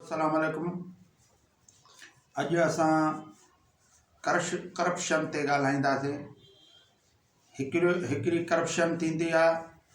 اسلام عليڪم اڄ اسان ڪرش ڪرپشن تي ڳالهائينداسين هڪڙو هڪڙي ڪرپشن ٿيندي آ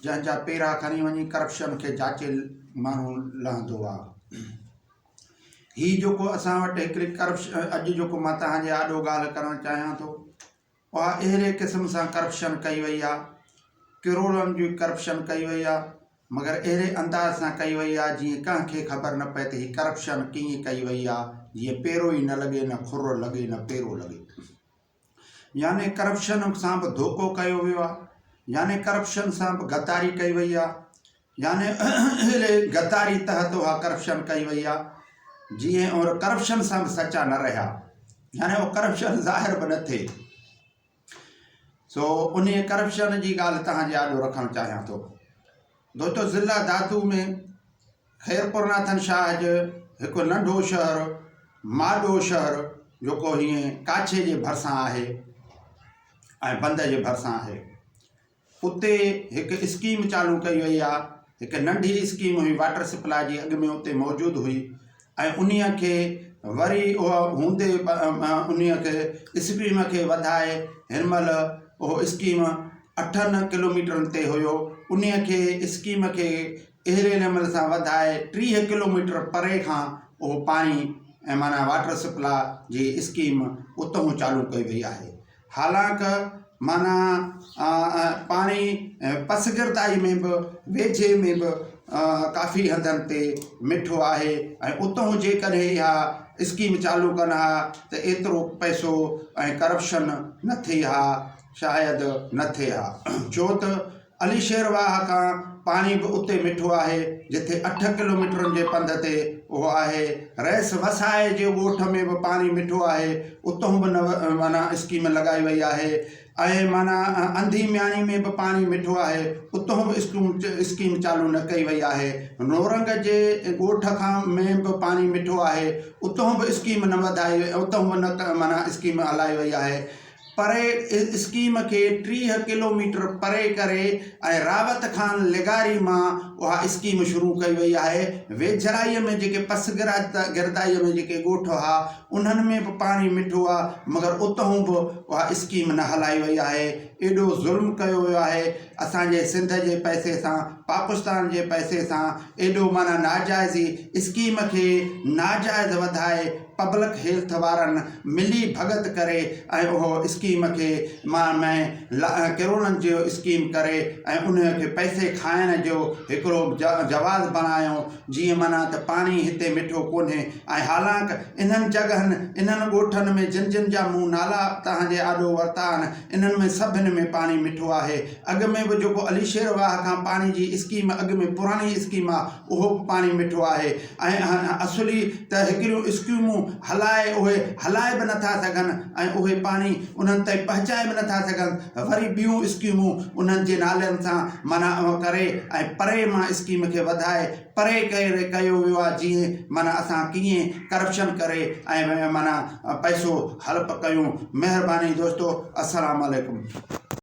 جنهن جا پيرا کڻي وڃي ڪرپشن کي جاچي ماڻهو لهندو آ هي جيڪو اسان وٽ هڪڙي ڪرپشن اڄ جيڪو مان تهان جي آڏو ڳالهه ڪرڻ چاهيان ٿو اها اهڙي قسم سان ڪرپشن ڪئي وئي آهي ڪروڙن جي ڪرپشن ڪئي وئي آهي مگر اهڙي انداز سان ڪئي وئي آهي جيئن ڪنهن کي خبر نه پئي ته هي ڪرپشن ڪيئن ڪئي وئي آهي جيئن پيرو ئي نه لڳي نه خر لڳي نه پيرو لڳي يعني ڪرپشن سان به ڌوڪو ڪيو ويو آهي يعني ڪرپشن سان به غداري ڪئي وئي آهي يعني اهڙي غداري تحت اها ڪرپشن ڪئي وئي آ جي ۽ اور ڪرپشن سان به سچا نه رهيا يعني اهو ڪرپشن ظاهر به نه ٿئي سو انهي ڪرپشن جي ڳالهه توهان جي آڏو رکڻ چاهيان ٿو دوستو ضلع دادو ۾ خيرپور ناٿن شاهه جو هڪ ننڍو شهر ماڏو شهر جيڪو هيئن ڪاڇي جي ڀرسان آهي ۽ بند جي ڀرسان آهي اتي هڪ اسڪيم چالو ڪئي وئي آ هڪ ننڍي اسڪيم هئي واٽر سپلاء جي اڳ ۾ اتي موجود هئي ۽ انهي کي وري اها هوندي انهي کي اسڪيم کي وڌائي هن مهل اهو اسڪيم اٺن ڪلوميٽرن تي هيو انهي کي اسڪيم کي اهڙي نموني سان وڌائي ٽيهه ڪلوميٽر پري کان اهو پاڻي معنيٰ واٽر سپلاء جي اسڪيم اتهون چالو ڪئي وئي آهي حالانڪ معنيٰ پاڻي پسگردائي ۾ به ويجهي ۾ به ڪافي هنڌن تي مٺو آهي ۽ اتهون جيڪڏهن اها اسڪيم چالو ڪن ها ته ايترو پئسو ۽ ڪرپشن نه ٿئي ها شايد نه ٿئي ها ڇو ته علي شير واهه کان پاڻي به اتي مٺو آهي، جتي اٺ ڪلوميٽرن جي پنڌ تي اهو آهي. رئيس وسائي جي ڳوٺ ۾ به پاڻي مٺو آهي، اتهون به معنيٰ اسڪيم لڳائي وئي آهي ۽ معنيٰ انڌي مياڻي ۾ به پاڻي مٺو آهي، اتهون به اسڪيم چالو نه ڪئي وئي آهي. نورنگ جي ڳوٺ کان ۾ به پاڻي مٺو آهي، اتهون به اسڪيم نه وڌائي، اتهون به نه معنيٰ اسڪيم هلائي وئي آهي. پري اسڪيم کي ٽيهه ڪلوميٽر پري ڪري ۽ راوت خان لغاري مان اها اسڪيم شروع ڪئي وئي آهي. ويجهڙائيء ۾ جيڪي پسگردائيء ۾ جيڪي ڳوٺ هئا، انهن ۾ به پاڻي مٺو آهي، مگر اتهون به اها اسڪيم نه هلائي وئي آهي. ايڏو ظلم ڪيو ويو آهي اسان جي سنڌ جي پئسي سان، پاڪستان جي پئسي سان، ايڏو معنيٰ ناجائزي اسڪيم کي ناجائز وڌائي، پبلڪ هيلٿ وارن ملي ڀڳت ڪري ۽ اهو اسڪيم کي مان مين لا ڪروڙن جو اسڪيم ڪري ۽ انهي کي پئسي کائڻ جو هڪڙو جواز بڻايو جيئن معنيٰ ته پاڻي هتي مٺو ڪونهي ۽ حالانڪ انهن جڳهن انهن ڳوٺن ۾ جن جن جا مون نالا توهان جي آڏو ورتا آهن انهن ۾ سڀني ۾ پاڻي مٺو آهي اڳ ۾ به جيڪو علي شير واهه کان پاڻي جي اسڪيم اڳ ۾ پراڻي اسڪيم آ اهو به پاڻي مٺو آهي ۽ اصولي ته هڪڙيون اسڪيمون هلائي اهي هلائي به نه ٿا سگهن ۽ اهي پاڻي انهن تائين پهچائي به نه ٿا سگهن وري ٻيون اسڪيمون انهن جي نالن سان معنيٰ ڪري ۽ پري مان اسڪيم کي وڌائي پري ڪري ڪيو ويو آهي جيئن معنيٰ اسان ڪيئن ڪرپشن ڪري ۽ معنيٰ پئسو هڙپ ڪيون مهرباني دوستو السلام عليڪم.